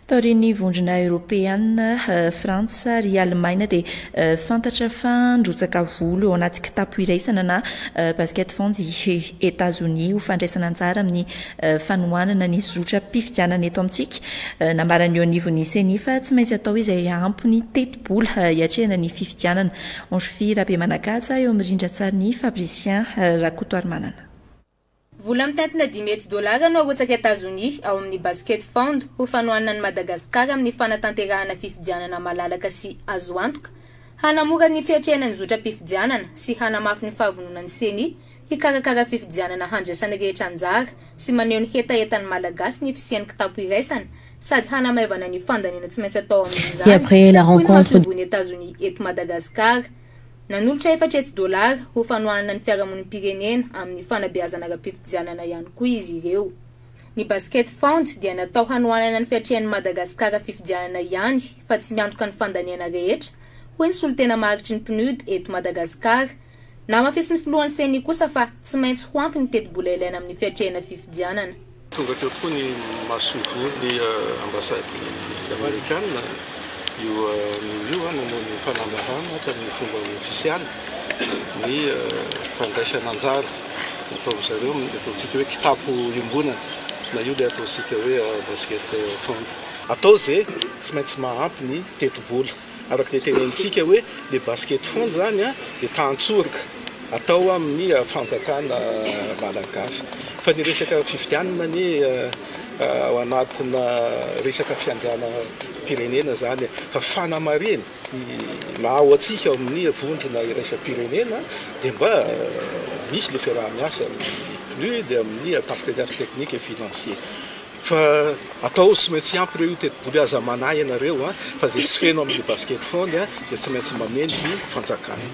Taorian'ny Vondrona Eoropeana, Frantsa ary Alemaina dia fantatra fa nirotsaka volo ao anaty kitapo iraisana na basket funds i Etazonia ho fandraisana anjara amin'ny fanohanana ny zotram-pifidianana eto amintsika. Nambaran'ny eo anivon'ny Ceni fa tsy maintsy atao izay ampy ny tetibola hiatrehana ny fifidianana. Ange-Fy Rabemanakatsa eo amin'ny rindran-tsarin'i Fabricien Rakotoarimanana. Vola mitatina dimy hetsy dolara no arotsaka Etazonia ao amin'ny Basket Fund ho fanohanana an'i Madagasikara amin'ny fanatanterahana fifidianana malalaka sy azo antoka, hanamora ny fiatrehana ny zotram-pifidianana sy hanamafy ny fahavononan'ny Ceni hikarakara fifidianana handraisan'ny rehetra anjara sy maneho ny hetahetan'ny Malagasy ny fisian'ny kitapo iraisana sady hanamaivana ny fandaniana tsy maintsy atao amin'izany, hoy ny Masoivohon'i Etazonia eto Madagasikara. Nanolotra efatra hetsy dolara ho fanohanana ny fiarahamonim-pirenena amin'ny fanabeazana ara-pifidianana ihany koa izy ireo. Ny Basket Fund dia natao hanohanana ny fiatrehan'i Madagasikara fifidianana ihany fa tsy miantoka ny fandaniana rehetra, hoy ny solontena maharitry ny Pnud eto Madagasikara. Namafisin'ny filohan'ny Ceni kosa fa tsy maintsy ho ampy ny tetibola ilaina amin'ny fiatrehana fifidianana. Tonga teo tokoa ny masoivohon'ny ambasady amerikana io anio io nanao ny fanamahana tamin'ny fomba ofisialy ny fandraisan'anjara nataon-dry zareo amin'ny ataontsika hoe kitapo iombonana na io ilay ataontsika hoe basket fund. Atao izay tsy maintsy maha ampy ny tetibola. Araka izay tenenintsika hoe le basket foana izany an, dia tantsoroka atao amin'ny fanjakana malagasy. Fa ny resaka fifidianana anie ao anatina resaka fiandrianam-pirenena izany e. Fa fanamarihina, ny maha ao antsika ao amin'ny vondrona iraisam-pirenena dia mba misy le fiaraha-miasa amin'ny PNUD, amin'ny partenaires techniques et financiers. Fa atao tsy maintsy ampy ireo io tetiboly aza manahy ianareo fa ze tsy feno aminy basket fony dia tsy maintsy mameno ny fanjakana.